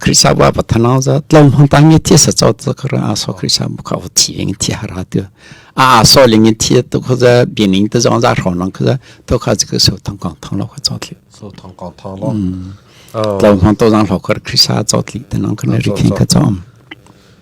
Khrihfabu ah pathanau za tlam hong ta nge thi sa chau ta kra aso Khrihfabu kha o thi ing thi hara tu a aso ling in thi tu kho za bien ing ta zong za ro nang kha za to kha ji so thang kong thang lo kha chau thi so thang kong thang lo tlam hong to zang lo kha Khrihfa chau thi ta nang kha ne ri thin kha chau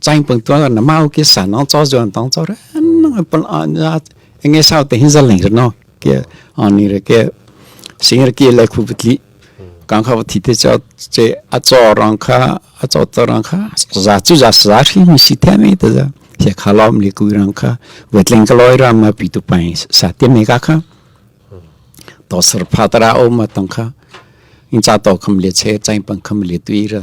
chaing pung tuar na mau ki san no cho zuan tong cho re no pon an ya enge sao te hin zal ling no ke ani re ke sing re ke le khu butli kang kha thi te cho che a cho rang kha a cho to rang kha za chu za sa ri mi si the me te za he kha lom li ku rang kha wetling ka loi ram ma pi tu pai sa te me ka kha to sar pha tara o ma tong kha in cha to kham le che chain pang kham le tuira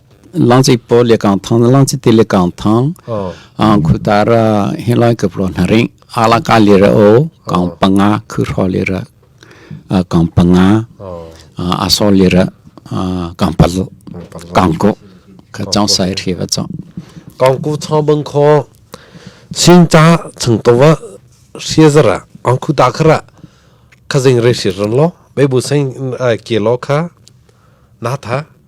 langci po le kang thang langci ti le kang thang ang khutara hin lai ka pro na ring ala ka le ra o kang panga khu ro le ra kang panga aso le ra kang pal kang ko ka chang sai thi va chang kang ku chang bang kho sin cha chang to wa sia zara ang khu ta khara khazing re sir ran lo bai bu sang ke lo kha na tha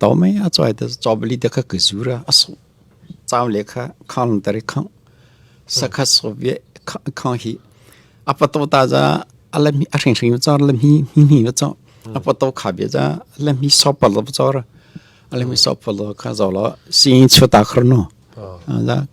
To mei a cuai te chawbali te kha ka zura a suk chau le kha khang tar i khang sakhat sovie khang hi a pato ta za a lam hi a hring hring char lam hi hi hi cha a pato kha bia za lam hi sop par lo char a lam hi sop par lo kha zo lo sing chu ta khar no a za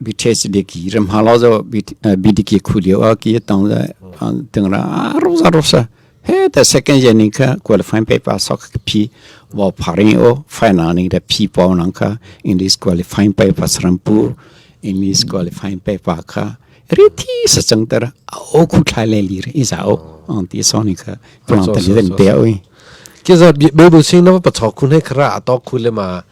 bithe ram ha lo zo bdk khu lio a ki tong za teng ra ro za ro sa he the second year ning ka qualifying paper sok p wa pharing o final ning da p po nang ka english qualifying paper srampur english qualifying paper ka ri thi sa chang tar o khu thai le li ri za o ang ti so ni ka plan ta ni den te oi ki zo bible sing na pa thok khun he khra to khul ma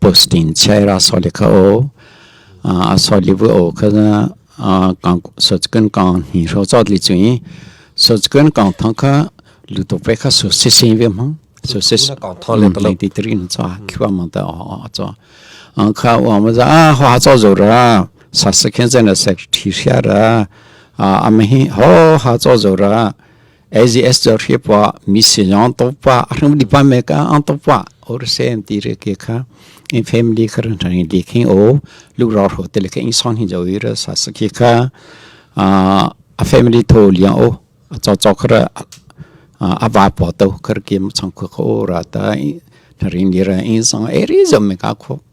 post in chiai ra so le kha o a so li bu o kha na kang so kan kang ni ro cho li chu yi so kan kang thang kha lu to pe kha so si sin ve ma so si kang thang le to ti tri ni cho khwa ma da o cho kha wa ma za a ha cho zo ra sa se khen se na se thi sha ra a ma hi ho ha cho zo ra AGS cu hri pa mi sin yong to pa hrung di pa me ka ang to pa or sen ti re ke kha in family kha ran thang di khing o lu ra ro te le ke in song hin jo wi ra sa sa ki kha a a family tho liang o a cho cho khra a ba po to kar ke chang khu ko ra ta thing di ra in song eri zom me ka khu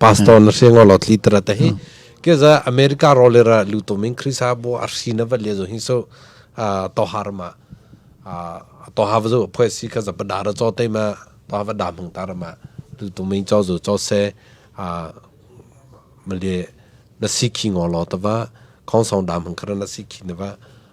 pastor na se ngo lo tli tara ta hi ke za america ro le ra lu to min krisa bo a shi na va le zo hin so to har ma to ha zo pho si ka za da ra cho te ma to ha va da mung ta ra ma lu to min cho zo cho se a male na si ki ngo lo ta va khong song da mung kra na si ki na va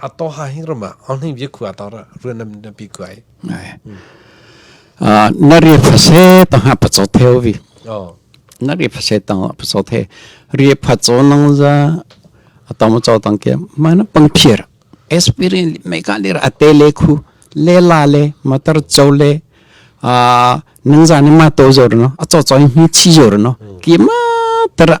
A to ha hing ram ah on hing bia khu a tor ruan nam na pi kuai. Ah na ri phase to ha pa cho theo vi. Oh. Na ri phase to pa cho the ri pha cho nang za atong cho tang ke ma na pang phir. Experience mai ka lir ate le khu le la le matar cho le ah nang za ni ma to zor no a cho cho hi chi zor no ki ma tara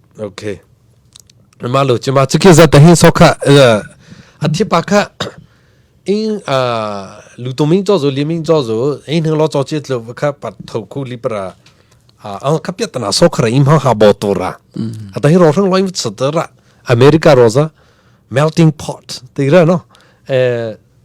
okay malo chima chiki za ta hin so kha athi pa kha in lu tum in cho zo lim in cho zo in hang lo cho chi tlu kha pat tho khu li para a ka pya tana so khara im ha ha bo to ra ata hi ro thang loi sa ta ra america rosa melting pot ti ra no eh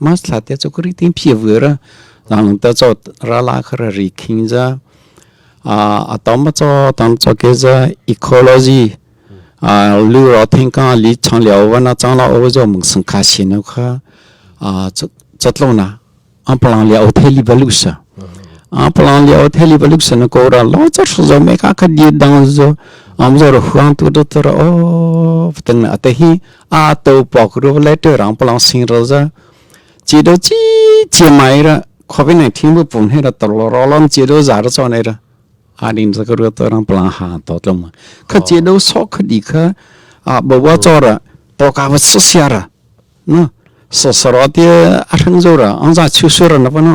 Mas thlate chu kuri tin phi vui ra lang ta cho ra la khara ri khing za a atom ma cho tang cho ke za ecology a lu ro thing ka li chang liao wa na chang la o zo mung sing kha sin no kha a chatlo na am palang liao the li balu sa a palang liao the li balu sa na ko ra lo cha shu zo me ka ka di dang zo am zo ro huang tu do tara o ting na ate hi a to pok ru le te rang palang sing ro za chi do chi chi mai ra covid 19 bu pum he ra tor lo ro lon chi do za ra cho nei ra arin za ka ru to rang palang ha to tlom kha chi do so kha di kha a bo wa cho ra to ka va so sia ra no so soro ti a thang zo ra an za chu su ra na pa no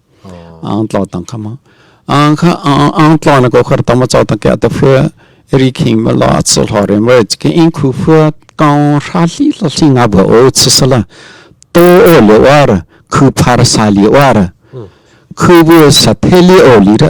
ang tlo tang khama ang kha ang tlo na ko khar tama chaw tang ke ta phe eri king ma la chu lo re mo ke in khu phu kong ra li la li nga bo o chu sala to o le war khu phar sa li war khu bu sa the li o li ra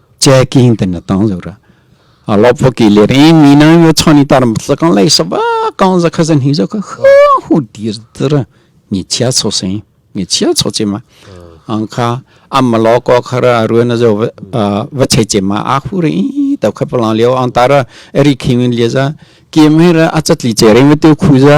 che king ten na tang zura a lop vo ki le ri ni na yo chani tar sa kan lai sa ba kan za kha zan hi zo kha hu dir dir mi chia cho sin mi chia cho che ma ang kha am ma lo ko khara ruan na zo va che che ma a hu ri ta kha palang liao ang tara eri khing le za kim hi ra achat li che ri me tu khu za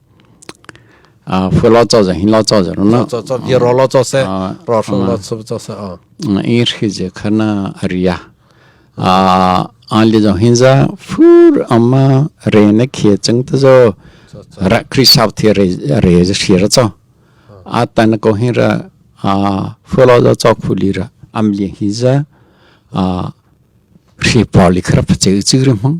啊，foi lo cho zang hin lo cho zang na cho cho bi ro lo cho se ro shu lo chu cho se a i ri je khana aria a an li zong hin za fur amma re ne khie chang ta zo ra kri sap thi re re je shi ra cho a tan ko hin ra a foi lo zo cho khu li ra am li hin za a ri po li khra pha che chi ri mang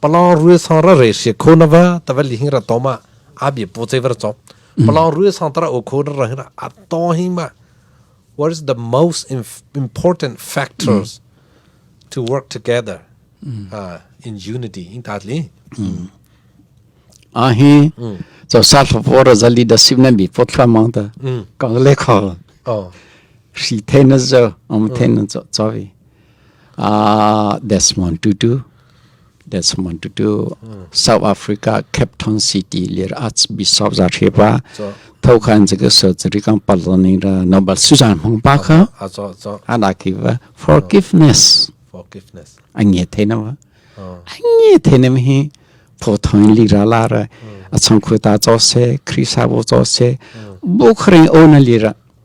palong rui sang ra re si kho na va ta va li hing ra to ma abi po che ver chop palong rui sang tara o kho na ra hina a to hi ma what is the most important factors to work together uh, in unity in ta li a hi cho sa tho po ra zali da sim na bi po thwa mang ta ka le kha oh si the na zo am the na cho cho vi uh, Desmond Tutu Desmond Tutu South Africa Capitol City lir arts bishop za the pa tho khan je ke surgery kan par learning ra Nobel Susan Hmang pa kha ana ki va forgiveness forgiveness ange the na wa ange the na mi pho thoin li ra la ra achang khuta cho se krisa bo cho se bu khring o na li ra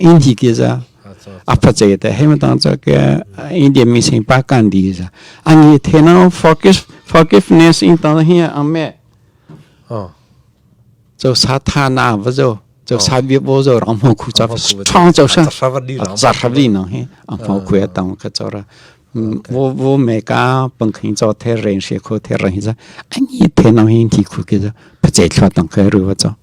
in hi ke za a pha che te he ma tang cha ke India mi sing pa kan di za an hi the na forgive forgiveness in tang hi am me cho sa tha na va zo cho sa bi bo zo ram ho khu cha chang cho sa za ra li na hi am ho khu ya tang ka cho ra wo wo me ka pang khin cho the ren she kho the ran hi za an hi the na hi thi khu ke za pha che thla tang ka ru wa cho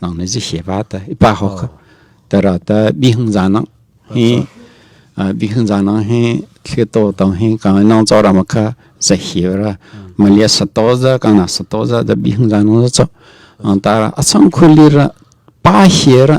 nang ne zi he ba ta i pa ho kha tara ta bi hung za nang hi bi hung za nang hi thli to to hi ka nang cho ram kha za hi ra malia sato za ka na sato za da bi hung za nang cho ta a sang khuli ra pa hi ra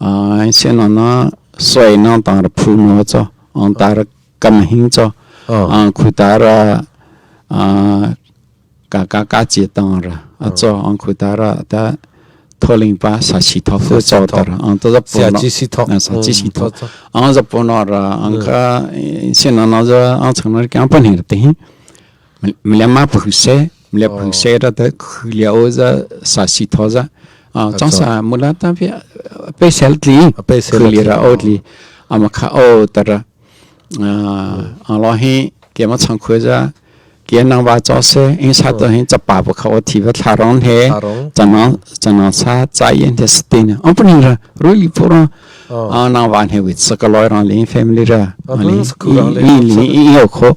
ai chen na soi na tar phu no cho ang tar kam hing cho a khu tar a ka ka ka che tang ra a cho ang khu tar ta tholing pa sa si tho fu cho tar ang to zap sia chi si tho sa chi si tho ang zap no ra ang ka chen na na za ang chang na kyang pan hing te hi Myanmar phu se, myanmar phu se ra ta khu lia o za sa si tho za. Chang sa mu la ta bi pe sel tli, khu lia ra o tli. Ama kha o tara. Ang lo hi kia ma chang khu za, kia nang wa cho se, in sa to hin chapa bu kha o thi va thla rong he, chana chana sa cha yen te stin. Ang punin ra, rui pu ra, nang wa he wit sa ka loi rang lin family ra. Li li i yo kho.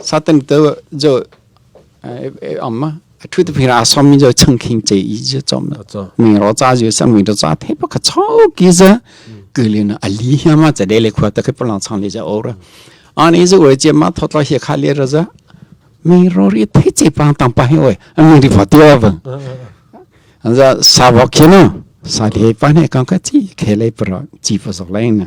Satan tu jo om a thu te phira som mi jo chang khing che i jo chom mi ro cha jo sang mi do cha the pa ka chau ki za ku le na ali ha ma cha de le khwa ta ke palang chang le ja or ani zo oi che ma thot la he kha le ra za mi ro ri the che pa tang pa he oi mi ri fa ti ba an za sa ba khe no sa le pa ne kang ka chi khe le pro chi pa sok lai na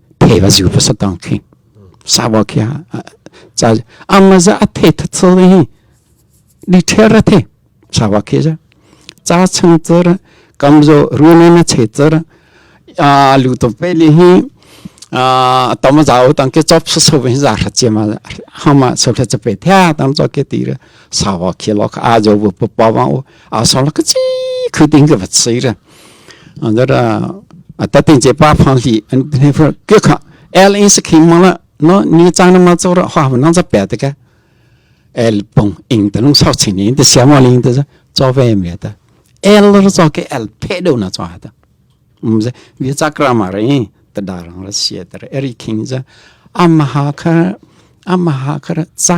thei va zu pa sa tang khi sa wa kia cha amma za a thei that so hi li ther a the sa wa khi za cha chang char kamzo ruane na che char a lu to pe li hi a tam zao tang ke chop so so hin za ra che ma hama so phe che pe thya tam cho ke ti sa wa khi lo a jo bu pa pa wa a so la kaci khu ding ka vat sei ra angar a ta ting che pa phang li an ne far ke kha l in se khing ma la no ni chang na ma cho ra ha nang za pe te ka l pong ing ta nung sau chin in te siam wa ling ta za cho ve me ta l ro cho ke l phe do na cho ha ta um ze vi cha kra ma re ta da rang ra sia ta eri khing za amaha khar amaha khar cha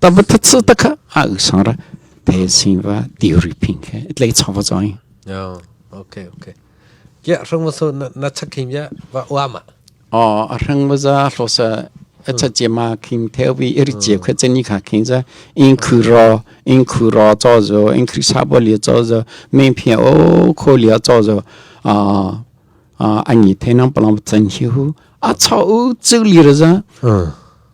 Tama that su ta kha a u sang ra te sing va ti ri ping khe tlei chong va chong. No. Okay, okay. Ya rung ma so na chak kim ya va wa ma. Oh, a rang ma za hlo sa a cha je ma king theo vi iri je kha chen ni kha king za in khu ro in khu ro cho zo in khu sa bo li cho zo men phi o kho li cho zo a a ani the nang palang chen hi hu a cha u chu li ra za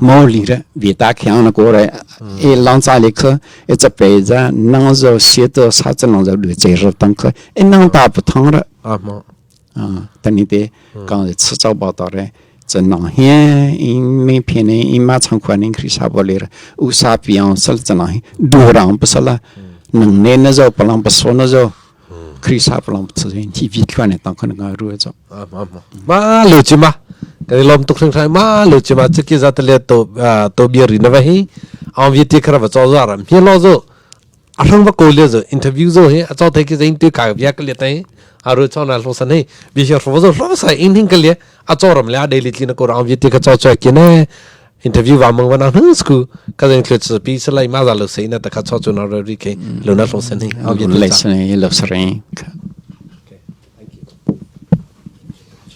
mo li re vi ta khiang na ko re e long cha le kha e cha pe za nang zo sie to sa chen long zo du che ro tang kha e nang ta pu thong re a mo a tan ni te kang le chu chau ba to re chen nang he in me phe ne in ma chang khwa ning khri sa bo le re u sa piang sal chen nang du rang pu sala nang ne na zo palang pu so na zo Krisa palam sa in hi vi thluan ne tang kan ga ru ja ma lu chi ma kan lom tuk hring hrai ma lu chi ma cheki za tale to to bia ri na va hi ang vi ti khara va cho za ram hi lo zo a hrang va ko le zo interview zo he a cho thai ki zain ti ka bia ka le tai aru cho na lo san he bi hi ro zo ro sa in hin ka le a cho ram le a daily tlin ko ang vi ti ka cho cho ki ne interview wa mang wana hu sku ka zeng thlet sa pi sa lai ma za lo sei na ta kha cho chu na ro ri ke lo na lo sen hi au ye le sa lo sering